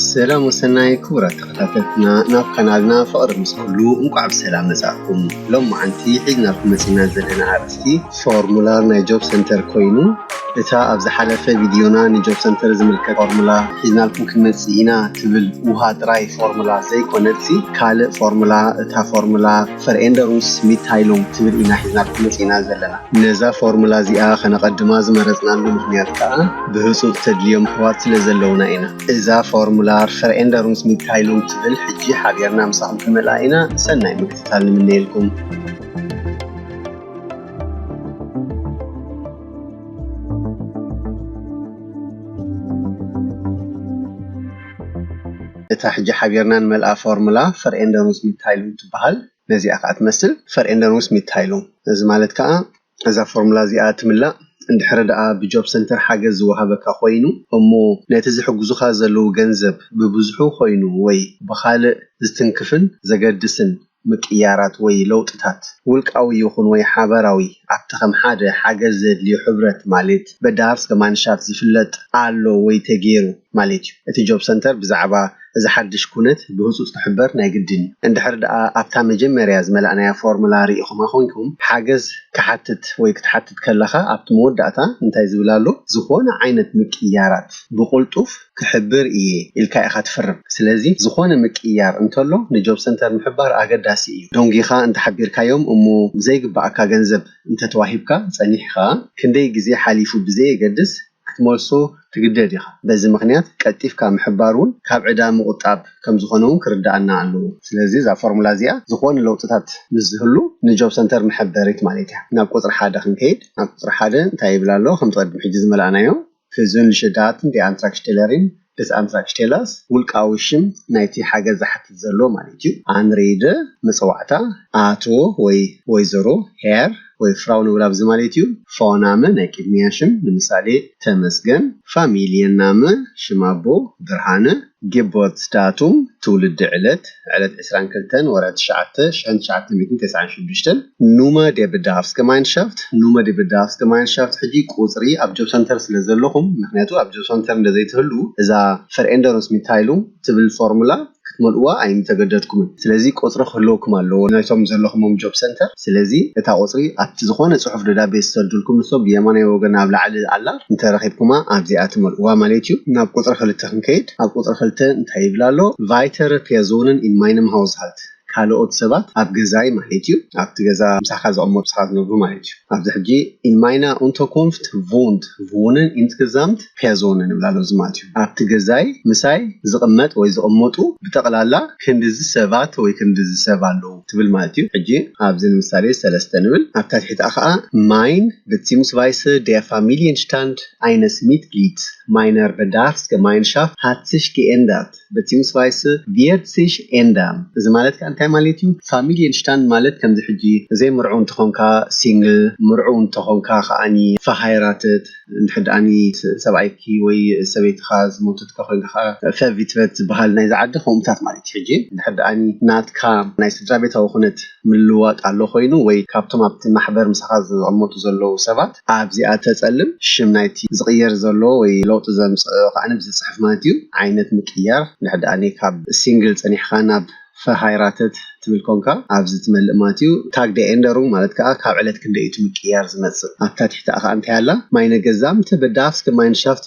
ሰላም ወሰናይ ክቡራት ተኸታተልትና ናብ ካናልና ፍቕሪ ምስ ኩሉ እንቋዕ ብሰላም መጻእኩም። ሎማዓንቲ ሒዝናልኩም መጺና ዘለና ኣርእስቲ ፎርሙላር ናይ ጆብ ሰንተር ኮይኑ እታ ኣብ ዝሓለፈ ቪድዮና ንጆብ ሰንተር ዝምልከት ፎርሙላ ሒዝናልኩም ክንመጽእ ኢና ትብል ውሃ ጥራይ ፎርሙላ ዘይኮነትሲ ካልእ ፎርሙላ እታ ፎርሙላ ፈርኤንደሩስ ሚትታይሉንግ ትብል ኢና ሒዝናልኩም መጺእና ዘለና። ነዛ ፎርሙላ እዚኣ ከነቐድማ ዝመረጽናሉ ምኽንያት ከኣ ብህጹጽ ተድልዮም ኣሕዋት ስለ ዘለዉና ኢና። እዛ ፎርሙላር ፈርኤንደሩንስ ሚትታይሉንግ ትብል ሕጂ ሓቢርና ምሳኹም ክንመልኣ ኢና፣ ሰናይ ምክትታል ንምነየልኩም። እታ ሕጂ ሓቢርና ንመልኣ ፎርሙላ ፈርኤንደሩንስ ሚትታይሉንግ ትበሃል። ነዚኣ ከኣ ትመስል ፈርኤንደር ምስ ሚድታይሉም። እዚ ማለት ከኣ እዛ ፎርሙላ እዚኣ ትምላእ እንድሕሪ ደኣ ብጆብ ሰንተር ሓገዝ ዝወሃበካ ኮይኑ እሞ ነቲ ዝሕግዙኻ ዘለዉ ገንዘብ ብብዝሑ ኮይኑ ወይ ብኻልእ ዝትንክፍን ዘገድስን ምቅይያራት ወይ ለውጥታት ውልቃዊ ይኹን ወይ ሓበራዊ ኣብቲ ከም ሓደ ሓገዝ ዘድልዮ ሕብረት ማሌት በዳሃርስገማንሻፍት ዝፍለጥ ኣሎ ወይ ተገይሩ ማሌት እዩ። እቲ ጆብ ሰንተር ብዛዕባ እዚ ሓድሽ ኩነት ብህጹጽ ክሕበር ናይ ግድን እዩ። እንድሕር ደኣ ኣብታ መጀመርያ ዝመላእናያ ፎርሙላ ርኢኹማ ኮይንኩም፣ ሓገዝ ክሓትት ወይ ክትሓትት ከለኻ ኣብቲ መወዳእታ እንታይ ዝብል ኣሎ፣ ዝኾነ ዓይነት ምቅይያራት ብቕልጡፍ ክሕብር እየ ኢልካ ኢኻ ትፍርም። ስለዚ ዝኾነ ምቅይያር እንተሎ ንጆብ ሰንተር ምሕባር ኣገዳሲ እዩ። ደንጒኻ እንተ ሓቢርካዮም እሞ ዘይግብኣካ ገንዘብ እንተ ተዋሂብካ ጸኒሕካ፣ ክንደይ ግዜ ሓሊፉ ብዘየገድስ ክትመልሶ ትግደድ ኢኻ። በዚ ምኽንያት ቀልጢፍካ ምሕባር ውን ካብ ዕዳ ምቑጣብ ከም ዝኾነ ውን ክርደኣና ኣለዎ። ስለዚ እዛ ፎርሙላ እዚኣ ዝኾነ ለውጥታት ምስ ዝህሉ ንጆብ ሰንተር መሐበሪት ማለት እያ። ናብ ቁጽሪ ሓደ ክንከይድ ኣብ ቁጽሪ ሓደ እንታይ ይብል ኣሎ ከምቲ ቅድም ሕጂ ዝመላእናዮ፣ Fusvn Lishedaaten de Antragstellerin፣ ደስ ኣምላክ ሽቴላስ ውልቃዊ ሽም ናይቲ ሓገዝ ዝሓትት ዘሎ ማለት እዩ። ኣንሪይደ መጸዋዕታ ኣቶ ወይ ወይዘሮ፣ ሄር ወይ ፍራው ንብላ ብዚ ማለት እዩ። ፎናመ ናይ ቅድሚያ ሽም ንምሳሌ ተመስገን፣ ፋሚልየናመ ሽም ኣቦ ብርሃነ፣ ጌቦርትስዳቱም ትውልዲ ዕለት፣ ዕለት ዕስራን ክልተን ወርሒ ትሽዓተ ሽሕን ትሽዓተ ሚእትን ተስዓን ሽዱሽተን ኑመ ዴ ብዳሃፍስ ገማይንሻፍት፣ Nummer der Bedarfsgemeinschaft፣ ሕጂ ቁጽሪ ኣብ ጆብ ሰንተር ስለ ዘለኹም ምኽንያቱ ኣብ ጆብ ሰንተር እንተ ዘይትህልዉ እዛ Veränderungsmitteilung ትብል ፎርሙላ ክትመልእዋ ኣይምተገደድኩምን ስለዚ ቁጽሪ ክህልወኩም ኣለዎ ናይቶም ዘለኹሞም ጆብ ሰንተር ስለዚ እታ ቁጽሪ ኣብቲ ዝኾነ ጽሑፍ ደብዳቤ ዝሰዱልኩም ንሶም ብየማናይ ወገን ኣብ ላዕሊ ኣላ እንተ ረኺብኩማ ኣብዚኣ ትመልእዋ ማለት እዩ። ናብ ቁጽሪ ክልተ ክንከይድ ኣብ ቁጽሪ ክልተ እንታይ ይብል ኣሎ Weitere Personen in meinem Haushalt ካልኦት ሰባት ኣብ ገዛይ ማለት እዩ ኣብቲ ገዛ ምሳኻ ዝቕመጡ ሰባት ዝነብሩ ማለት እዩ ኣብዚ ሕጂ in meiner Unterkunft wohnt wohnen insgesamt ፔር ዞን እንብላ ሎዚ ማለት እዩ። ኣብቲ ገዛይ ምሳይ ዝቕመጥ ወይ ዝቕመጡ ብጠቕላላ ክንድዚ ሰባት ወይ ክንድዚ ሰብ ኣለዉ ትብል ማለት እዩ። ሕጂ ኣብዚ ንምሳሌ ሰለስተ ንብል ኣብታ ትሒትኣ ከኣ ማይን ብትሲምስቫይሰ ዴር ፋሚልየን ሽታንድ ኣይነስ ሚትግሊድ ማይነር በዳርፍስ ገማይንሻፍት ሃት ሲሽ ጌኤንደርት። Beziehungsweise wird sich ändern እዚ ማለት ከኣ እንታይ ማለት እዩ Familienstand ማለት ከምዚ ሕጂ ዘይምርዑው እንተኾንካ Single ምርዑው እንተኾንካ ከኣ Verheiratet እንድሕር ደኣ ሰብኣይኪ ወይ ሰበይትኻ ዝሞተት እንተኾይንካ ከኣ Verwitwet ዝብሃል ናይዚ ዓዲ ከምኡታት ማለት እዩ ሕጂ እንድሕር ደኣ ናትካ ናይ ስድራቤታዊ ኩነት ምልውዋጥ ኣሎ ኮይኑ ወይ ካብቶም ኣብቲ ማሕበር ምሳኻ ዝቕመጡ ዘለዉ ሰባት ኣብዚኣ ተጸልም ሽም ናይቲ ዝቕየር ዘሎ ወይ ለውጢ ዘምጽእ ኸኣ ዝጽሕፍ ማለት እዩ ዓይነት ምቅያር ንሕድኣኒ ካብ ሲንግል ጸኒሕካ ናብ ፈርሃይራተት ትብል ኮንካ ኣብዚ ትመልእ ማለት እዩ ታግ ደ ኤንደሩንግ ማለት ከኣ ካብ ዕለት ክንደይ እዩ እቲ ምቅያር ዝመጽእ ኣብታ ትሕቲኣ ከኣ እንታይ ኣላ ማይነ ገዛምት በዳፍስ ገማይንሻፍት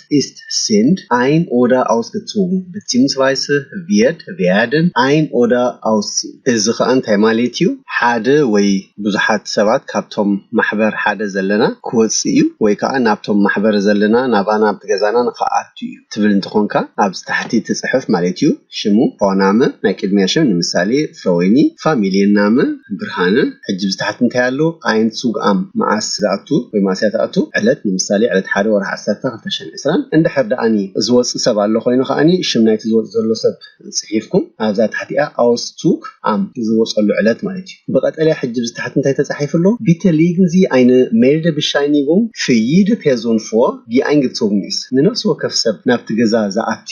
Wort ist sind ein oder ausgezogen beziehungsweise wird werden ein oder ausziehen እዚ ኸኣ እንታይ ማሌት እዩ ሓደ ወይ ብዙሓት ሰባት ካብቶም ማሕበር ሓደ ዘለና ክወጽእ እዩ ወይ ከኣ ናብቶም ማሕበር ዘለና ናባና ናብቲ ገዛና ንክኣቱ እዩ ትብል እንተኾንካ ኣብዚ ታሕቲ ትጽሕፍ ማሌት እዩ ሽሙ ፕሮናመ ናይ ቅድሚያ ሽም ንምሳሌ ሰወይኒ ፋሚሊ የናመ ብርሃነ ሕጂ ብዝተሓት እንታይ ኣሎ ኣየንት ሱግኣም መዓስ ዝኣቱ ወይ መኣስ እያ ትኣቱ ዕለት ንምሳሌ ዕለት ሓደ ወርሒ ዓሰርተ ክልተ ሽሕን ዕስራን እንድሕር ደኣኒ ዝወጽእ ሰብ ኣሎ ኮይኑ ከኣኒ ሽም ናይቲ ዝወጽእ ዘሎ ሰብ ጽሒፍኩም ኣብዛ ታሕቲኣ ኣውስቱግ ኣም ዝወጸሉ ዕለት ማለት እዩ ብቀጠልያ ሕጂ ብዝተሓት እንታይ ተጻሒፉ ኣሎ ቢተ ሊግን ዚ ኣይነ ሜርደ ብሻይኒጉም ፍይደ ፔርዞን ፎር ጊኣይንግትሶግኒስ ንነፍሲ ወከፍ ሰብ ናብቲ ገዛ ዝኣቲ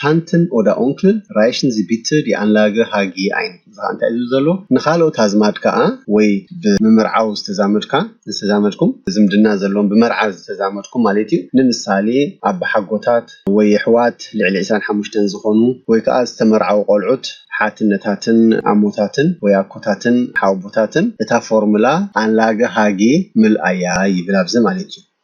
ታንትን ኦዳ ኡንክል ራይሽን ዚ ቢትር ዲ ኣንላገ ሃ ጊ ኣይን፣ እዚ ኸኣ እንታይ እዩ ዝብል ዘሎ፣ ንኻልኦት ኣዝማድ ከኣ ወይ ብምምርዓው ዝተዛመድካ፣ ዝተዛመድኩም፣ ዝምድና ዘለዎም ብመርዓ ዝተዛመድኩም ማለት እዩ፣ ንምሳሌ ኣባሓጎታት ወይ የሕዋት ልዕሊ ዕስራን ሓሙሽተን ዝኾኑ ወይ ከኣ ዝተመርዓዉ ቆልዑት ሓትነታትን ኣሞታትን ወይ ኣኮታትን ሓወቦታትን እታ ፎርምላ ኣንላገ ሃ ጊ ምልኣያ ይብል ኣብዚ ማለት እዩ።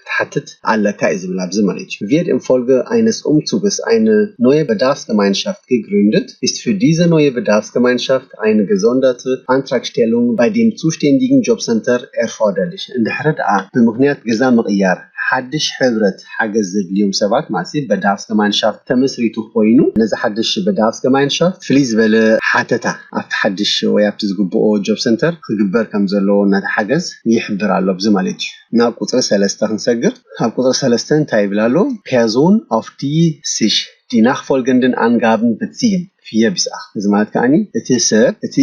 ክትሓትት ኣለካ እዩ ዝብል ኣብዚ መሪች ቪድ እን ፎልገ ኣይነስ ኡምቱብስ ኣይነ ኖየ በዳፍስገማይንሻፍት ግግሩንድት ኢስት ፊር ዲዘ ኖየ በዳፍስገማይንሻፍት ኣይነ ገዞንደት ኣንትራክሽቴሉንግ ባይ ዴም ጹሽቴንዲግን ጆብ ሰንተር ኤርፎርደርሊሽ እንድሕሪ ደኣ ብምክንያት ገዛ ምቕያር ሓድሽ ሕብረት ሓገዝ ዘድልዮም ሰባት ማሲ በዳፍስገማይንሻፍት ተመስሪቱ ኮይኑ ነዚ ሓድሽ በዳፍስገማይንሻፍት ፍልይ ዝበለ ሓተታ ኣብቲ ሓድሽ ወይ ኣብቲ ዝግብኦ ጆብ ሰንተር ክግበር ከም ዘለዎ ነቲ ሓገዝ ይሕብር ኣሎ ኣብዚ መሪች ናብ ቁጽሪ ሰለስተ ክንሰግር ኣብ ቁጽሪ ሰለስተ እንታይ ይብል ኣሎ ፐርዞን ኣፍ ዲ ሲሽ ዲ ናክ ፎልገንድን ኣንጋብን ብትሲን ፍየ ቢስኣክ እዚ ማለት ከኣኒ እቲ ሰብ እቲ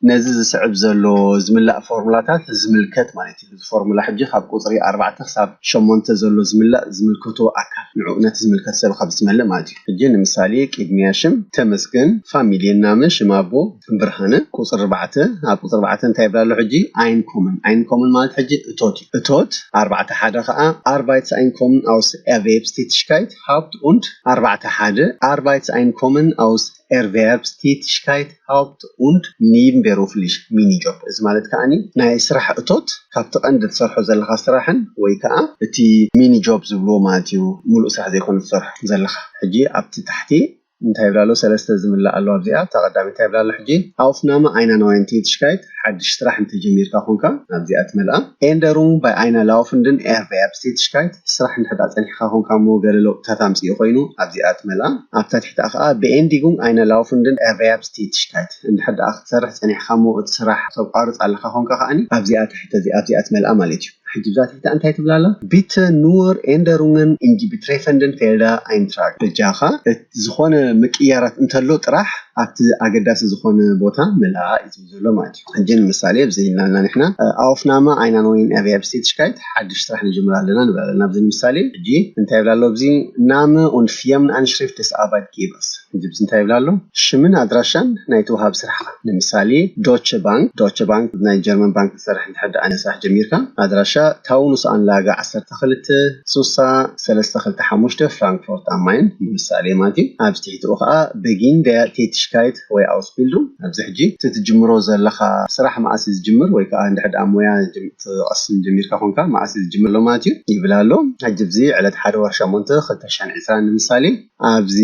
ነዚ ዝስዕብ ዘሎ ዝምላእ ፎርሙላታት ዝምልከት ማለት እዩ እዚ ፎርሙላ ሕጂ ካብ ቁጽሪ ኣርባዕተ ክሳብ ሸሞንተ ዘሎ ዝምላእ ዝምልከቶ ኣካል ንዑ ነቲ ዝምልከት ሰብ ካብ ዝትመልእ ማለት እዩ ሕጂ ንምሳሌ ቅድሚያ ሽም ተመስገን ፋሚልየ ናመ ሽም ኣቦ ብርሃነ ቁፅሪ ኣርባዕተ ኣብ ቁፅሪ ኣርባዕተ እንታይ ይብል ኣሎ ሕጂ ኣይንኮምን ኣይንኮምን ማለት ሕጂ እቶት እዩ እቶት ኣርባዕተ ሓደ ከዓ ኣርባይትስ ኣይንኮምን ኣውስ ኤርቬብስቲትሽካይት ሃውፕት ኡንድ ኣርባዕተ ሓደ ኣርባይትስ ኣይንኮምን ኣውስ ኤርቬብስቲትሽካይት ሃውፕት ኡንድ ኒምቤሩፍሊሽ ሚኒጆብ እዚ ማለት ከዓኒ ናይ ስራሕ እቶት ካብቲ ቀንዲ ትሰርሖ ዘለካ ስራሕን ወይ ከዓ እቲ ሚኒጆብ ዝብልዎ ማለት እዩ ሙሉእ ስራሕ ዘይኮነ ትሰርሖ ዘለካ ሕጂ ኣብቲ ታሕቲ እንታይ ይብላ ኣሎ ሰለስተ ዝምላእ ኣሎ ኣብዚኣ እታ ቀዳመይቲ ታይ ይብላ ኣሎ ሕጂ Aufnahme Einer neuen Tätigkeit ሓድሽ ስራሕ እንተ ጀሚርካ ኮንካ ናብዚኣ ትመልኣ Änderung bei einer laufenden Erwerbstätigkeit ስራሕ እንድሕር ደኣ ጸኒሕካ ኮንካ እሞ ገለ ለውጥታት ኣምጺኡ ኮይኑ ኣብዚኣ ትመልኣ ኣብታ ትሕቲኣ ከኣ Beendigung einer laufenden Erwerbstätigkeit እንድሕር ደኣ ክትሰርሕ ጸኒሕካ እሞ እቲ ስራሕ ተቋርጽ ኣለካ ኮንካ ከኣ ኣብዚኣ ትሕቲ እዚኣ ኣብዚኣ ትመልኣ ማለት እዩ። ሕጂ እዛ ቲታ እንታይ ትብል ኣላ ቢተ ኑወር ኤንደሩንገን ኢንዲ ቢትሬፈንደን ፌልዳ ኣይንትራግ በጃኻ ዝኾነ ምቅይያራት እንተሎ ጥራሕ ኣብቲ ኣገዳሲ ዝኾነ ቦታ ምልኣ እዩ ዝብል ዘሎ ማለት እዩ ሕጂ ንምሳሌ ኣብዚ ኢልናልና ንሕና ኣውፍናማ ኣይና ኖይን ኣቪያ ብስቴትሽካይት ሓድሽ ስራሕ ንጅምር ኣለና ንብል ኣለና ኣብዚ ንምሳሌ ሕጂ እንታይ ይብል ኣሎ ኣብዚ ናመ ኡንድ ፊርምንኣንሽሪፍት ደስ ኣርባይት ጌበርስ ህዝብስ እንታይ ይብል ኣሎ? ሽምን ኣድራሻን ናይቲ ወሃቢ ስራሕካ፣ ንምሳሌ ዶቸ ባንክ፣ Deutsche Bank፣ ናይ ጀርመን ባንክ ትሰርሕ እንድሕር ደኣ ናይ ስራሕ ጀሚርካ፣ ኣድራሻ ታውኑስ ኣንላገ ዓሰርተ ክልተ ሱሳ ሰለስተ ክልተ ሓሙሽተ ፍራንክፎርት ኣም ማይን ንምሳሌ ማለት እዩ፣ ኣብዚ ትሕቲኡ ከኣ በጊን ደያር ቴቲሽካይት ወይ ኣውስቢልዱንግ፣ ኣብዚ ሕጂ እቲ ትጅምሮ ዘለኻ ስራሕ መኣስ እዩ ዝጅምር ወይ ከኣ እንድሕር ደኣ ሞያ ክትቐስም ጀሚርካ ኮንካ መኣስ እዩ ዝጅምር ኣሎ ማለት እዩ ይብል ኣሎ። ሕጂ ኣብዚ ዕለት ሓደ ወርሒ ሸሞንተ ክልተ ሽሕን ዕስራን ንምሳሌ፣ ኣብዚ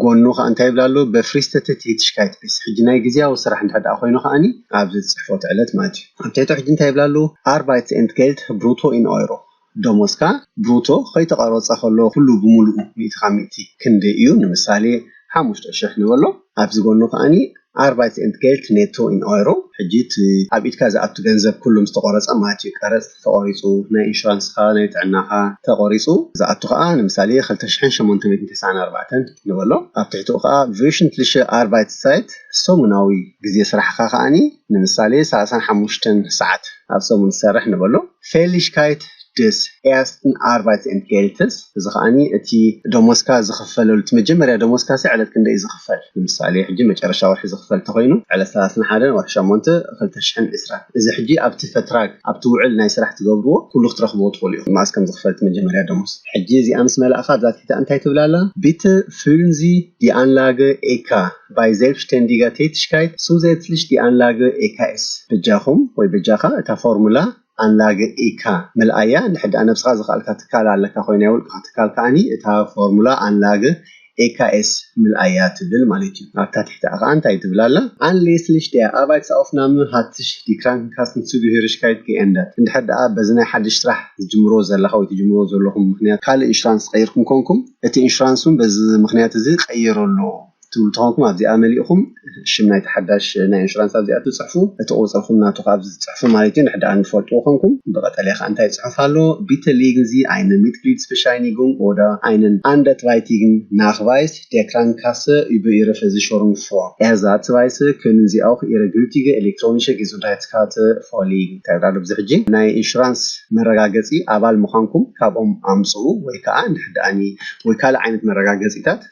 ጎኑ ከኣ እንታይ ይብል ኣሎ በፍሪስተትት ሂትሽካይት ቢስ ሕጂ ናይ ግዝያዊ ስራሕ እንድሕር ደኣ ኮይኑ ከኣኒ ኣብዚ ጽሕፎት ዕለት ማለት እዩ ኣብ ትሕቱ ሕጂ እንታይ ይብል ኣሎ ኣርባይትስ ኤንት ጌልት ብሩቶ ኢን ኦይሮ ደሞዝካ ብሩቶ ከይተቐረጸ ከሎ ኩሉ ብምሉኡ ሚእቲ ካብ ሚእቲ ክንደይ እዩ ንምሳሌ ሓሙሽተ ሽሕ ንበሎ ኣብዚ ጎኑ ከኣ ኣርባይት ኤንድ ጌልት ኔቶ ኢን ኦይሮ፣ ሕጂ እቲ ኣብ ኢድካ ዝኣቱ ገንዘብ ኩሉ ምስ ተቆረጸ ማለት እዩ፣ ቀረጽ ተቆሪጹ፣ ናይ ኢንሹራንስካ፣ ናይ ጥዕናካ ተቆሪጹ ዝኣቱ ከኣ ንምሳሌ ክልተ ሽሕን ሸሞንተ ሚእትን ተስዓን ኣርባዕተን ንበሎ፣ ኣብ ትሕቲኡ ከኣ ቭዩሽንትሊሸ ኣርባይትስጻይት፣ ሰሙናዊ ግዜ ስራሕካ ከኣ ንምሳሌ ሰላሳን ሓሙሽተን ሰዓት ኣብ ሰሙን ዝሰርሕ ንበሎ፣ ፌሊሽካይት፣ ደስ ኤርስትን ኣርባይት ኤንድ ጌልትስ እዚ ከኣ እቲ ደሞዝካ ዝኽፈለሉ እቲ መጀመርያ ደሞዝካሲ ዕለት ክንደይ እዩ ዝኽፈል ንምሳሌ ሕጂ መጨረሻ ወርሒ ዝኽፈል እንተኾይኑ ዕለት ሰላስን ሓደን ወርሒ ሸሞንተ ክልተ ሽሕን ዕስራን እዚ ሕጂ ኣብቲ ፈትራግ ኣብቲ ውዕል ናይ ስራሕ ትገብርዎ ኩሉ ክትረኽብዎ ትኽእሉ ኢኹም መኣስ ከም ዝኽፈል እቲ መጀመርያ ደሞዝ ሕጂ እዚኣ ምስ መላእካ ኣብዛ ትሕቲ እንታይ ትብል ኣላ ቢተ ፍሉን ዚ ዲ ኣንላገ ኤካ ባይ ዜልብሽተንዲጋ ቴትሽካይት ሱዘትልሽ ዲ ኣንላገ ኤካ ኤስ በጃኹም ወይ በጃኻ እታ ፎርሙላ ኣንላግኢካ ምልኣያ ንሕድኣ ነብስኻ ዘኽኣልካ ትካል ኣለካ ኮይኑ ናይ ውልቅኻ ትካል ከኣ እታ ፎርሙላ ኣንላግኢካ ኤስ ምልኣያ ትብል ማለት እዩ ኣብታ ትሕትኣ ከኣ እንታይ ትብል ኣላ ኣንሌስልሽ ዲያ ኣርባይትስ ኣውፍ ናምን ሃትሽ ዲ ክራንክንካስን ሱግሂርሽካይት ጌኤንደት እንድሕር ደኣ በዚ ናይ ሓድሽ ስራሕ ዝጅምርዎ ዘለኻ ወይ ትጅምርዎ ዘለኹም ምኽንያት ካልእ ኢንሹራንስ ቀይርኩም ኮንኩም እቲ ኢንሹራንስ ውን በዚ ምኽንያት እዚ ቀይርሉ ትብሉ ተኾንኩም ኣብዚኣ መሊእኹም ሽም ናይቲ ሓዳሽ ናይ ኢንሹራንስ ኣብዚኣ ትጽሕፉ እቲ ቁጽርኹም ናቱ ከኣ ኣብዚ ትጽሕፉ ማለት እዩ ንሕድኣ ንፈልጥዎ ኮንኩም ብቀጠልያ ከኣ እንታይ ጽሑፍ ኣሎ ቢተ ሊግን ዚ ኣይነ ሚትግሊድስበሻይኒጉንግ ኦዳ ኣይነን ኣንደትራይቲግን ናክቫይስ ዴክራን ካሰ ኡበ ኢረ ፈዚሾሩንግ ፎር ኤርዛ ትቫይሰ ኩንን ዚ ኣውክ ኢረ ግልቲገ ኤሌክትሮኒሸ ጌዙንድሃይትስካተ ፎሊግ እንታይ ይብላ ኣሎ ብዚ ሕጂ ናይ ኢንሹራንስ መረጋገጺ ኣባል ምዃንኩም ካብኦም ኣምጽኡ ወይ ከኣ ንሕድኣኒ ወይ ካልእ ዓይነት መረጋገጺታት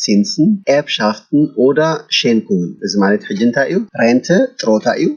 ሲንስን፣ ኤርብሻፍትን ኦደር ሼንኩንን፣ እዚ ማለት ሕጂ እንታይ እዩ? ሬንተ ጥሮታ እዩ፣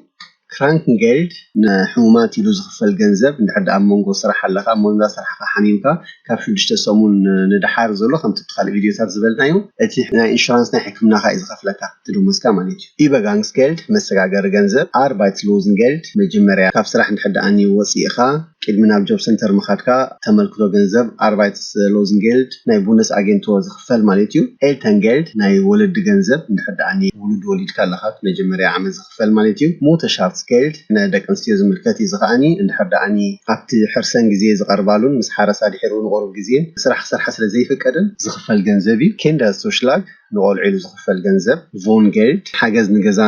ክራንክንጌልድ ንሕሙማት ኢሉ ዝኽፈል ገንዘብ፣ እንድሕር ደኣ ኣብ መንጎ ስራሕ ኣለኻ እሞ እንዳ ሰርሕኻ ሓሚምካ ካብ ሽዱሽተ ሰሙን ንደሓር ዘሎ ከምቲ ኣብቲ ካልእ ቪድዮታት ዝበልናዮ እቲ ናይ ኢንሹራንስ ናይ ሕክምናኻ እዩ ዝኸፍለካ። ትርጉም ሙዚቃ ማለት እዩ። Übergangsgeld፣ መሰጋገሪ ገንዘብ፣ Arbeitslosengeld፣ መጀመርያ ካብ ስራሕ እንድሕር ደኣ ን ወጺእኻ ቅድሚ ናብ ጆብ ሰንተር ምኻድካ ተመልክቶ ገንዘብ፣ Arbeitslosengeld፣ ናይ ቡንደስኣጌንቶ ዝኽፈል ማለት እዩ። Elterngeld፣ ናይ ወለዲ ገንዘብ፣ እንድሕር ደኣ ን ውሉድ ወሊድካ ኣለኻ ኣብቲ መጀመርያ ዓመት ዝኽፈል ማለት እዩ። Mutterschaftsgeld፣ ን ደቂ ኣንስትዮ ዝምልከት እዩ እዚ ከኣ ን እንድሕር ደኣ ን ኣብቲ ሕርሰን ግዜ ዝቐርባሉን ምስ ሓረሳ ድሒሩ ንቑሩብ ግዜ ስራሕ ክሰርሓ ስለ ዘይፍቀደን ዝኽፈል ገንዘብ እዩ። Kinderzuschlag፣ ንቆልዑ ኢሉ ዝኽፈል ገንዘብ፣ Wohngeld፣ ሓገዝ ንገዛ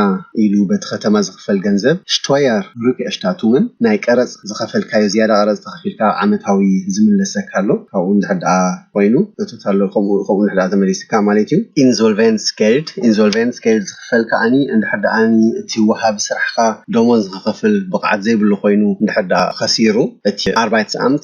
ኢሉ በቲ ከተማ ዝኽፈል ገንዘብ፣ Steuerrückerstattungen፣ ናይ ቀረጽ ዝኸፈልካዮ ዝያዳ ቀረጽ ተኸፊልካ ኣብ ዓመታዊ ዝምለሰካ ኣሎ ካብኡ እንድሕር ደኣ ኮይኑ እቶት ኣሎ ከምኡ ከምኡ እንድሕር ደኣ ተመሊስካ ማለት እዩ፣ Insolvenzgeld፣ Insolvenzgeld፣ ዝኽፈል ከኣኒ እንድሕር ደኣኒ እቲ ወሃቢ ስራሕኻ ደሞዝ ንኽኸፍል ብቕዓት ዘይብሉ ኮይኑ እንድሕር ደኣ ኸሲሩ እቲ Arbeitsamt፣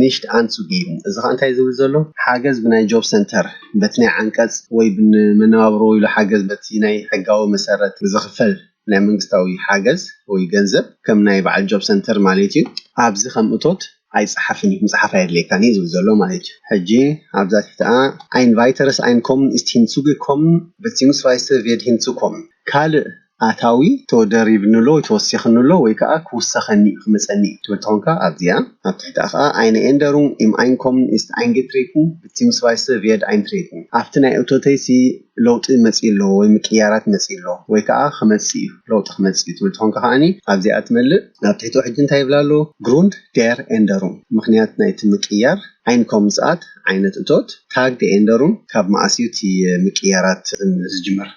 Nicht anzugeben እዚ ኸኣ እንታይ እዩ ዝብል ዘሎ ሓገዝ ብናይ ጆብ ሰንተር በቲ ናይ ዓንቀጽ ወይ ብንመነባብሮ ወይሉ ሓገዝ በቲ ናይ ሕጋዊ መሰረት ብዝኽፈል ናይ መንግስታዊ ሓገዝ ወይ ገንዘብ ከም ናይ በዓል ጆብ ሰንተር ማለት እዩ ኣብዚ ከም እቶት ኣይጸሓፍን እዩ ምጽሓፍ ኣየድልየካን እዩ ዝብል ዘሎ ማለት እዩ ሕጂ ኣብዛ ትሕቲኣ Ein weiteres Einkommen ist hinzugekommen beziehungsweise wird hinzukommen ካልእ ኣታዊ ተደሪብንሎ ወይ ተወሲኽንሎ ወይ ከኣ ክውሰኸኒ እዩ ክመጸኒ እዩ ትብል ተኾንካ ኣብዚኣ ኣብ ትሕቲኣ ከኣ Eine Änderung im Einkommen ist eingetreten bzw. wird eintreten ኣብቲ ናይ እቶተይሲ ለውጢ መጺኡ ኣሎ ወይ ምቅይያራት መጺኡ ኣሎ ወይ ከኣ ክመጽእ እዩ ለውጢ ክመጽእ እዩ ትብል ተኾንካ ከኣ ኣብዚኣ ትመልእ ኣብ ትሕቲኡ ሕጂ እንታይ ይብላ ኣሎ Grund der Änderung ምኽንያት ናይቲ ምቅይያር Einkommensart ዓይነት እቶት Tag der Änderung ካብ መኣስ እዩ እቲ ምቅይያራት ዝጅምር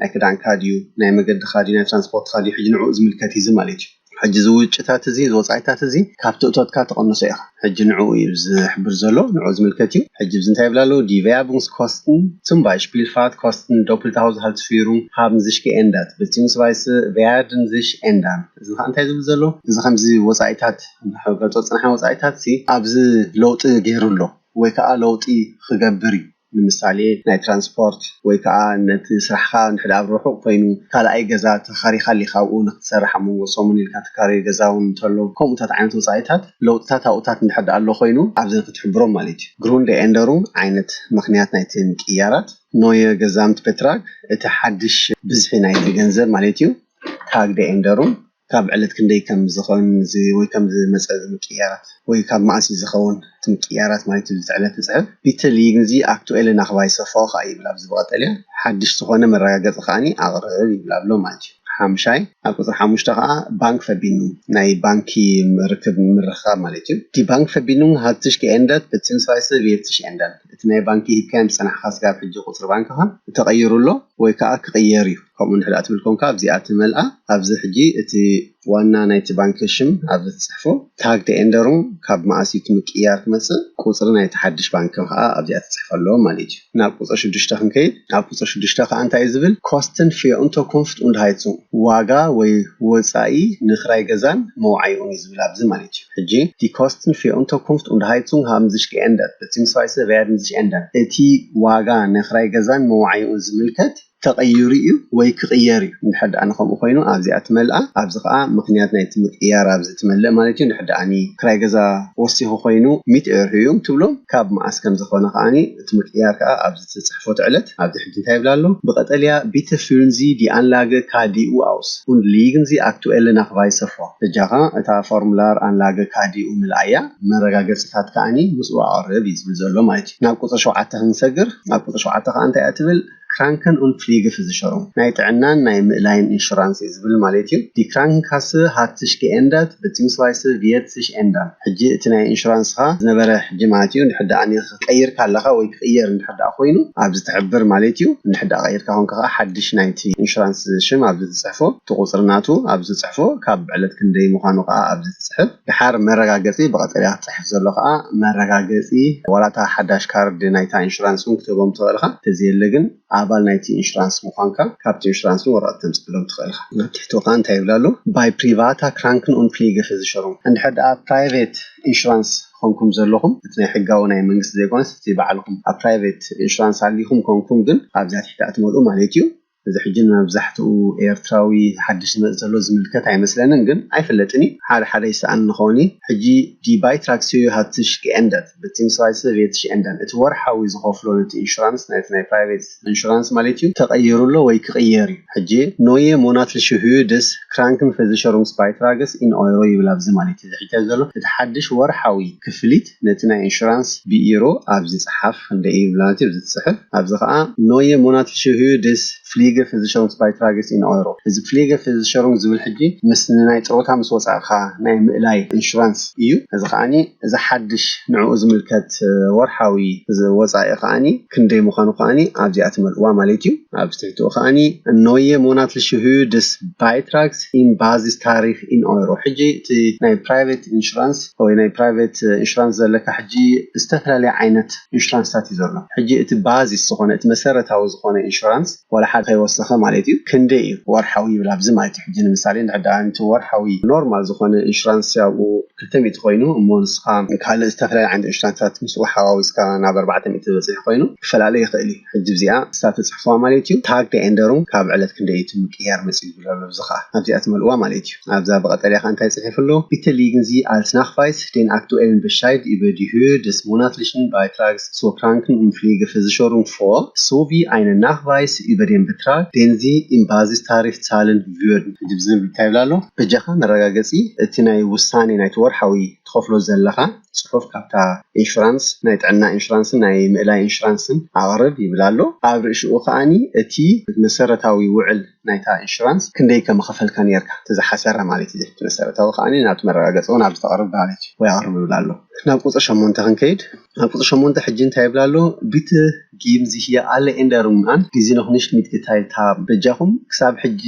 ናይ ክዳንካ ድዩ ናይ መገድኻ ድዩ ናይ ትራንስፖርትኻ ድዩ ሕጂ ንዕኡ ዝምልከት እዩ እዚ ማለት እዩ ሕጂ እዚ ውጪታት እዚ እዚ ወጻኢታት እዚ ካብቲ እቶትካ ትቅንሶ ኢኻ ሕጂ ንዕኡ እዩ ዝሕብር ዘሎ ንዕኡ ዝምልከት እዩ ሕጂ ኣብዚ እንታይ ይብል ኣሎ ዲ ቨያቡንግስኮስትን ጹም ባይሽፒልፋት ኮስትን ዶፕልተ ሃውዝሃልትስፊሩንግ ሃብን ዝሽኪ ኤንዳት ብጺምስባይስ ቨያርድን ዝሽ ኤንዳን እዚ ኸኣ እንታይ ዝብል ዘሎ እዚ ከምዚ ወጻኢታት ክንገልጾ ዝጸናሕና ወጻኢታትሲ ኣብዚ ለውጢ ጌሩ ኣሎ ወይ ከኣ ለውጢ ኽገብር እዩ። ንምሳሌ ናይ ትራንስፖርት ወይ ከኣ ነቲ ስራሕኻ እንድሕር ኣብ ርሑቕ ኮይኑ ካልኣይ ገዛ ተኻሪኻ ኣሊኻ ኣብኡ ንኽትሰርሕ ኣብ መንጎ ሰሙን ኢልካ ትካረዮ ገዛ ውን እንተሎ ከምኡታት ዓይነት ወጻኢታት ለውጥታት ኣብኡታት እንድሕር ደኣ ኣሎ ኮይኑ ኣብዚ ንኽትሕብሮም ማለት እዩ Grundänderung ዓይነት ምኽንያት ናይቲ ምቅይያራት Neue Gesamtbetrag እቲ ሓድሽ ብዝሒ ናይቲ ገንዘብ ማለት እዩ Tagdeänderung ካብ ዕለት ክንደይ ከም ዝኸን ወይ ከም ዝመጸ ምቅይያራት ወይ ካብ መኣስ እዩ ዝኸውን እቲ ምቅይያራት ማለት እዩ እቲ ዕለት ትጽሕፍ ቢትል ይግንዚ ኣክቱኤለ ናክቫይሰ ፎኻ ይብል ኣብዚ ብቐጠልያ ሓድሽ ዝኾነ መረጋገጺ ከኣ ኣቕርብ ይብል ኣሎ ማለት እዩ ሓምሻይ ኣብ ቁጽሪ ሓሙሽተ ከኣ ባንክ ፈቢኑም ናይ ባንኪ ርክብ ምርኽኻብ ማለት እዩ ዲ ባንክ ፈቢኑም ሃትሽ ከኤንደት በትሲምስቫይሰ ቪየትሽ ኤንደን እቲ ናይ ባንኪ ሂብካዮም ዝጸናሕካ ስጋብ ሕጂ ቁጽሪ ባንክኻ ተቐይሩ ኣሎ ወይ ከኣ ክቕየር እዩ። ከምኡ እንድሕር ትብል ኮንካ ኣብዚኣ ትመልኣ ኣብዚ ሕጂ እቲ ዋና ናይቲ ባንኪ ሽም ኣብዚ ትጽሕፎ Tag the Änderung ካብ መኣስ እዩ እቲ ምቅይያር ክመጽእ ቁጽሪ ናይቲ ሓድሽ ባንኪ ከኣ ኣብዚኣ ትጽሕፍ ኣለዎ ማለት እዩ ናብ ቁጽሪ ሽዱሽተ ክንከይድ ኣብ ቁጽሪ ሽዱሽተ ከኣ እንታይ እዩ ዝብል Kosten für Unterkunft und Heizung ዋጋ ወይ ወጻኢ ንክራይ ገዛን መውዓይኡን እዩ ዝብል ኣብዚ ማለት እዩ ሕጂ Die Kosten für Unterkunft und Heizung haben sich geändert beziehungsweise werden sich ändern እቲ ዋጋ ንክራይ ገዛን መውዓይኡን ዝምልከት ተቐይሩ'ዩ ወይ ክቕየር'ዩ፣ እንድሕር ደኣ ንኸምኡ ኮይኑ ኣብዚኣ ትመልኣ፣ ኣብዚ ከኣ ምኽንያት ናይቲ ምቅይያር ኣብዚ ትመልእ ማለት'ዩ፣ እንድሕር ደኣ ንክራይ ገዛ ወሲኹ ኮይኑ ሚእቲ ኤርሁ'ዩ ትብሎ፣ ካብ መኣስ ከም ዝኾነ ከኣ እቲ ምቅይያር ከኣ ኣብዚ ትጽሕፎ'ቲ ዕለት፣ ኣብዚ ሕጂ እንታይ ይብል ኣሎ፣ ብቀጠልያ Bitte fühlen Sie die Anlage KDU aus und legen Sie aktuelle Nachweise vor፣ በጃኻ እታ ፎርሙላር ኣንላገ ካዲኡ ምልኣያ፣ መረጋገጺታት ከኣ ምስኡ ኣቕርብ እዩ ዝብል ዘሎ ማለት'ዩ፣ ናብ ቁጽሪ ሸውዓተ ክንሰግር፣ ኣብ ቁጽሪ ሸውዓተ ከኣ እንታይ'ያ ትብል፣ ክራንከን ኡን ፍሊግፍዝሸሩም፣ ናይ ጥዕናን ናይ ምእላይን ኢንሹራንስ እዩ ዝብል ማሌት እዩ። ዲ ክራንክንካሰ ሃት ስሽ ገኤንደርት፣ በጺምስዋይሰ ቪየት ስሽ ኤንደርን። ሕጂ እቲ ናይ ኢንሹራንስኻ ዝነበረ ሕጂ ማለት እዩ፣ እንድሕር ደኣ ኒኽ ቀይርካ ኣለኻ ወይ ክቕየር እንድሕር ደኣ ኮይኑ ኣብዚ ትሕብር ማሌት እዩ። እንድሕር ደኣ ቀይርካ ኮንካ ከኣ ሓድሽ ናይቲ ኢንሹራንስ ሽም ኣብዚ ትጽሕፎ፣ እቲ ቁጽሪ ናቱ ኣብዚ ትጽሕፎ፣ ካብ ዕለት ክንደይ ምዃኑ ከኣ ኣብዚ ትጽሕፍ። ደሓር መረጋገጺ ብቐጠልያ። ዝጽሕፍ ዘሎ ከኣ መረጋገጺ ዋላ እታ ሓዳሽ ካርድ ናይታ ኢንሹራንስ ውን ክትህቦም ትኽእል ኢኻ፣ ተዘየለ ግን ኣባል ናይቲ ኢንሹራንስ ምዃንካ ካብቲ ኢንሹራንስ ውን ወረቐት ክተምጽኣሎም ትኽእል ኢኻ። ኣብ ትሕቱ ከኣ እንታይ ይብል ኣሎ ባይ ፕሪቫታ ክራንክን ኡን ፍሊገፈሲሸሩንግ እንድሕር ደኣ ፕራይቬት ኢንሹራንስ ኾንኩም ዘለኹም እቲ ናይ ሕጋዊ ናይ መንግስቲ ዘይኮነስ እቲ ባዕልኹም ኣብ ፕራይቬት ኢንሹራንስ ኣሊኹም ኮንኩም ግን ኣብዚኣ ትሕቲ ኣትመልኡ ማለት እዩ። እዚ ሕጂ ንመብዛሕትኡ ኤርትራዊ ሓድሽ ዝመጽእ ዘሎ ዝምልከት ኣይመስለንን ግን ኣይፍለጥን እዩ ሓደ ሓደ ይሰኣን ንኸውን እዩ ሕጂ ዲ ባይትራክ ስዩ ሃት ስሽ ገኤንደት ብቲንግስራይስህ ቬት ሽኤንደን እቲ ወርሓዊ ዝኸፍሎ ነቲ ኢንሹራንስ ናይቲ ናይ ፕራይቬት ኢንሹራንስ ማለት እዩ ተቐይሩ ኣሎ ወይ ክቕየር እዩ ሕጂ ኖየ ሞናትልሽ ህዩ ድስ ክራንክን ፈዚሸሩንግስ ባይትራግስ ኢን ኦይሮ ይብል ኣብዚ ማለት እዩ እዚ ሕጂ ዘሎ እቲ ሓድሽ ወርሓዊ ክፍሊት ነቲ ናይ ኢንሹራንስ ቢኢሮ ኣብዚ ጽሓፍ ክንደይ ኢዩ ቭላንቲር ዝጽሕፍ ኣብዚ ከኣ ኖየ ሞናትልሽ ህዩ ድስ ፍሊገ ፍዝሸሩንግስባይትራገስ ኢን ኦሮ እዚ ፍሊገ ፍዝሸሩንግ ዝብል ሕጂ ምስ ንናይ ጥሮታ ምስ ወጻእካ ናይ ምእላይ ኢንሹራንስ ኢዩ እዚ ከኣ እዚ ሓድሽ ንዕኡ ዝምልከት ወርሓዊ ወጻኢ ከኣ ክንደይ ምዃኑ ከኣ ኣብዚኣ ትመልእዋ ማለት እዩ። ኣብ ትሕቲኡ ከኣ En neue monatliche Höhe des Beitrags im Basistarif in Euro ሕጂ እቲ ናይ ፕራይቬት ኢንሹራንስ ወይ ናይ ፕራይቬት ኢንሹራንስ ዘለካ ሕጂ ዝተፈላለየ ዓይነት ኢንሹራንስታት እዩ ዘሎ ሕጂ እቲ ባዚስ ዝኾነ እቲ መሰረታዊ ዝኾነ ኢንሹራንስ ዋላ ሓደ ከይወሰኸ ማለት እዩ ክንደይ እዩ ወርሓዊ ይብል ኣብዚ ማለት እዩ ሕጂ ንምሳሌ እንድሕር ደኣ ነቲ ወርሓዊ ኖርማል ዝኾነ ኢንሹራንስ ኣብኡ ክልተ ሚእቲ ኮይኑ እሞ ንስኻ ንካልእ ዝተፍላለየ ዓይነት ኢንሹራንሳት ምስኡ ሓዋዊስካ ናብ ኣርባዕተ ሚእቲ ዝበጽሕ ኮይኑ ክፈላለ ይኽእል እዩ ሕጂ እዚኣ ንሳ ተጽሕፍዋ ማለት እዩ ታግ ተኤንደሩንግ ካብ ዕለት ክንደይ እዩ እቲ ምቅያር መጺኡ ዝብል ኣሎ እዚ ከኣ ኣብዚኣ ትመልእዋ ማለት እዩ ኣብዛ ብቀጠልያ ከኣ እንታይ ጽሒፉ ኣሎ ቢተ ሊግን ዚ ኣልት ናክፋይስ ዴን ኣክቱኤልን በሻይድ ኢበ ዲ ሁር ደስ ሞናትሊሽን ባይትራግስ ሶ ፕራንክን ኡም ፍሊገ ፌዚሾሩንግ ፎ ሶ ቪ ኣይነ ናክቫይስ ኢበ ዴን በትራግ ዴን ዚ ኡም ባዚስ ታሪፍ ዛልን ግበር ንሕጂ ዝም ኢልካ ይብል ኣሎ በጃካ መረጋገጺ እቲ ናይ ውሳኔ ናይቲ ወርሓዊ ትከፍሎ ዘለካ ጽሑፍ ካብታ ኢንሹራንስ ናይ ጥዕና ኢንሹራንስን ናይ ምእላይ ኢንሹራንስን ኣቅርብ ይብል ኣሎ ኣብ ርእሽኡ ከኣኒ እቲ መሰረታዊ ውዕል ናይታ ኢንሹራንስ ክንደይ ከምከፈልካ ኔርካ እቲ ዝሓሰረ ማለት እዩ እቲ መሰረታዊ ከኣኒ ናብቲ መረጋገጺ ውን ኣብዚ ተቅርብ ማለት እዩ ወይ ኣቅርብ ይብል ኣሎ ናብ ቁጽሪ ሸሞንተ ክንከይድ ኣብ ቁጽሪ ሸሞንተ ሕጂ እንታይ ይብል ኣሎ ቢት ጊም ዚህየ ኣለ ኤንደሩንግ ኣን ጊዚ ኖኽ ኒሽት ሚት ጌታይል ታሃብ። በጃኹም ክሳብ ሕጂ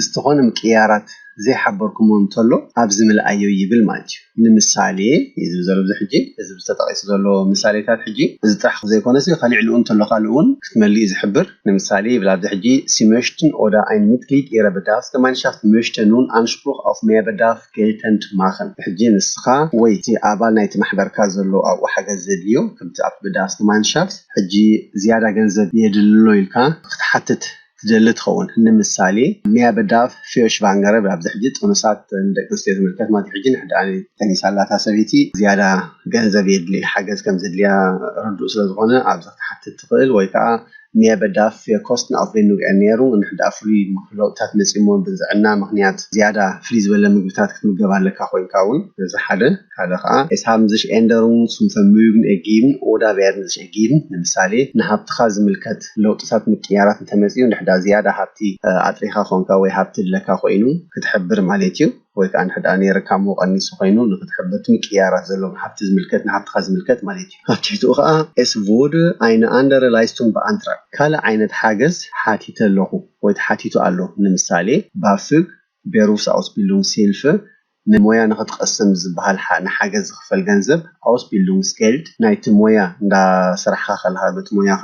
ዝተኾነ ምቅይያራት ዘይሓበርኩሞ እንተሎ ኣብዚ ምልኣዮ ይብል ማለት እዩ። ንምሳሌ እዩ ዝብል ዘሎ እዚ ሕጂ እዚ ብዚ ተጠቂሱ ዘሎ ምሳሌታት ሕጂ እዚ ጥራሕ ዘይኮነሲ ካሊዕ ልኡ እንተሎ ካልእ እውን ክትመሊ እዩ ዝሕብር ንምሳሌ ይብል ኣብዚ ሕጂ ሲመሽትን ኦዳ ኣይን ሚትግሊድ ኢረ በዳፍ ገማንሻፍት መሽተ ኑን ኣንሽፕሩኽ ኣውፍ መያበዳፍ ከየጠምጠማኽን ብሕጂ ንስኻ ወይ እቲ ኣባል ናይቲ ማሕበርካ ዘሎ ኣብኡ ሓገዝ ዘድልዮ ከምቲ ኣብ Bedarfsgemeinschaft ሕጂ ዝያዳ ገንዘብ የድልሎ ኢልካ ክትሓትት ትደሊ ትኸውን ንምሳሌ Mehr Bedarf für Schwangere ኣብዚ ሕጂ ጥኑሳት ንደቂ ኣንስትዮ ዝምልከት ማለት እዩ ሕጂ ንሕዳ ጠኒሳ ኣላ እታ ሰበይቲ ዝያዳ ገንዘብ የድልይ ሓገዝ ከም ዘድልያ ርዱእ ስለ ዝኾነ ኣብዚ ክትሓትት ትኽእል ወይ ከኣ ኔቨ ዳፍ ፌርኮስት ንኣፍሪን ንውዕን ነይሩ። እንሕ ድኣ ፍሉይ ለውጥታት መጺእሞ ብዝዕና ምኽንያት ዝያዳ ፍልይ ዝበለ ምግብታት ክትምገብ ኣለካ ኮይንካ ውን። እዚ ሓደ። ካልእ ከኣ ኤስ ሃብን ዝሽ ኤንደሩን ሱም ፈርምዩግን ኤጊብን ኦዳ ቬርድን ዝሽ ኤጊብን። ንምሳሌ ንሃብትኻ ዝምልከት ለውጥታት ምቅይያራት እንተመጺኡ እንሕ ድኣ ዝያዳ ሃብቲ ኣጥሪኻ ኮንካ ወይ ሃብቲ ድለካ ኮይኑ ክትሕብር ማሌት እዩ። ወይ ከኣ እንተድኣ ነይርካ እሞ ቀኒሱ ኮይኑ ንክትሕብርት ምቅይያራት ዘለዎም ሃብቲ ዝምልከት ንሃብትኻ ዝምልከት ማለት እዩ። ኣብ ትሕቲኡ ከኣ Es wurde eine andere Leistung beantragt ካልእ ዓይነት ሓገዝ ሓቲተ ኣለኹ ወይ ተሓቲቱ ኣሎ ንምሳሌ BAföG፣ Berufsausbildungshilfe፣ ን ሞያ ንክትቐስም ዝበሃል ንሓገዝ ዝኽፈል ገንዘብ፣ Ausbildungsgeld፣ ናይቲ ሞያ እንዳ ሰራሕኻ ከለኻ በቲ ሞያኻ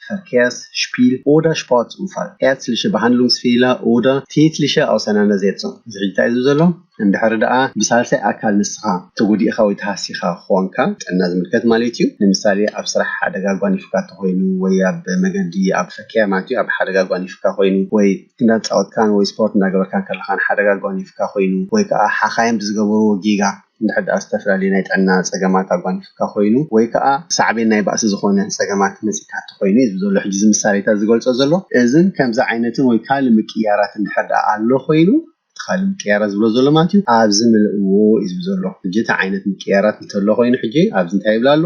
Verkehrsspiel oder Sportunfall, ärztliche Behandlungsfehler oder tätliche Auseinandersetzung ዝሕጂ ታይ እዩ ዘሎ እንድሕሪ ደኣ ብሳልሳይ ኣካል ንስኻ ተጎዲእኻ ወይ ተሃሲኻ ኾንካ ጥዕና ዝምልከት ማለት እዩ ንምሳሌ ኣብ ስራሕ ሓደጋ ኣጓኒፉካ ተኾይኑ ወይ ኣብ መገዲ ኣብ Verkehr ማለት እዩ ኣብ ሓደጋ ኣጓኒፉካ ኾይኑ ወይ እንዳተጻወትካን ወይ ስፖርት እንዳገበርካን ከለኻን ሓደጋ ኣጓኒፉካ ኾይኑ ወይ ከኣ ሓኻይም ብዝገበርዎ ጌጋ እንድሕር ደኣ ዝተፈላለዩ ናይ ጥዕና ጸገማት ኣጓኒፉካ ኮይኑ ወይ ከኣ ሳዕቤን ናይ ባእሲ ዝኾነ ጸገማት መጺእካ እንተኾይኑ እዩ ዘሎ ሕጂ እዚ ምሳሌታት ዝገልጾ ዘሎ። እዝን ከምዚ ዓይነትን ወይ ካልእ ምቅይያራት እንድሕር ደኣ ኣሎ ኮይኑ እቲ ካልእ ምቅይያራት ዝብሎ ዘሎ ማለት እዩ ኣብዚ ምልእዎ እዩ ዝብል ዘሎ። ሕጂ እቲ ዓይነት ምቅይያራት እንተሎ ኮይኑ ሕጂ ኣብዚ እንታይ ይብል ኣሎ?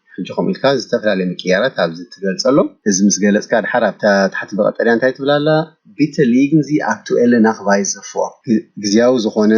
ሕጂ ከምኡ ኢልካ ዝተፈላለየ ምቅይያራት ኣብዚ ትገልጸሉ እዚ ምስ ገለጽካ ድሓር ኣብታ ታሕቲ ብቀጠልያ እንታይ ትብል ኣላ Bitte legen Sie aktuelle Nachweise vor ግዝያዊ ዝኾነ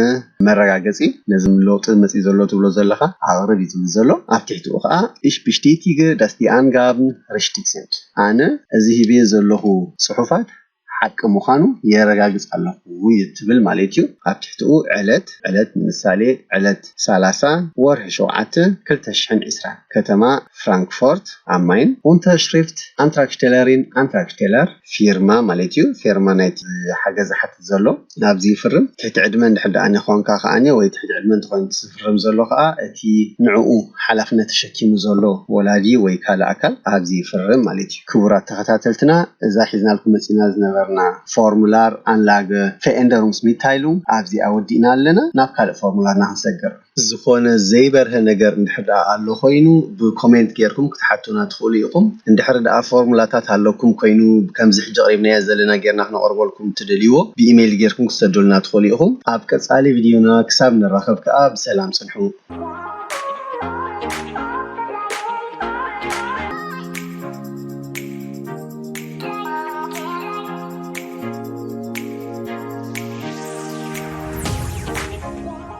መረጋገጺ ነዚ ለውጢ መጺኡ ዘሎ ትብሎ ዘለኻ ኣቅርብ እዩ ዝብል ዘሎ ኣብ ትሕቲኡ ከኣ Ich bestätige dass die Angaben richtig sind ኣነ እዚ ሂበዮ ዘለኹ ጽሑፋት ሓቂ ምዃኑ የረጋግጽ ኣለኹ እዩ እትብል ማለት እዩ። ኣብ ትሕቲኡ ዕለት፣ ዕለት ንምሳሌ ዕለት ሰላሳ ወርሒ ሸውዓተ ክልተ ሽሕን ዕስራን፣ ከተማ ፍራንክፎርት ኣም ማይን፣ Unterschrift Antragstellerin Antragsteller ፊርማ ማለት እዩ፣ ፌርማ ናይቲ ሓገዝ ዝሓትት ዘሎ፣ ናብዚ ይፍርም። ትሕቲ ዕድመ እንድሕር ደኣ ኾንካ ከኣ ወይ ትሕቲ ዕድመ እንተኾይኑ እቲ ዝፍርም ዘሎ ከኣ እቲ ንዕኡ ሓላፍነት ተሸኪሙ ዘሎ ወላዲ ወይ ካልእ ኣካል ኣብዚ ይፍርም ማለት እዩ። ክቡራት ተኸታተልትና እዛ ሒዝናልኩም መጺእና ዝነበርና ፎርሙላር ኣንላገ ፌኤንደሩንግስ ሚታይሉንግ ኣብዚኣ ወዲእና ኣለና። ናብ ካልእ ፎርሙላርና ክንሰግር። ዝኾነ ዘይበርሀ ነገር እንድሕር ድኣ ኣሎ ኮይኑ ብ ኮሜንት ጌርኩም ክትሓቱና ትኽእሉ ኢኹም። እንድሕር ድኣ ፎርሙላታት ኣለኩም ኮይኑ ከምዚ ሕጂ ኣቕሪብናዮ ዘለና ጌርና ክነቕርበልኩም እትደልይዎ ብ ኢሜይል ጌርኩም ክትሰዱልና ትኽእሉ ኢኹም። ኣብ ቀጻሊ ቪድዮና ክሳብ ንራኸብ ከኣ ብሰላም ጽንሑ።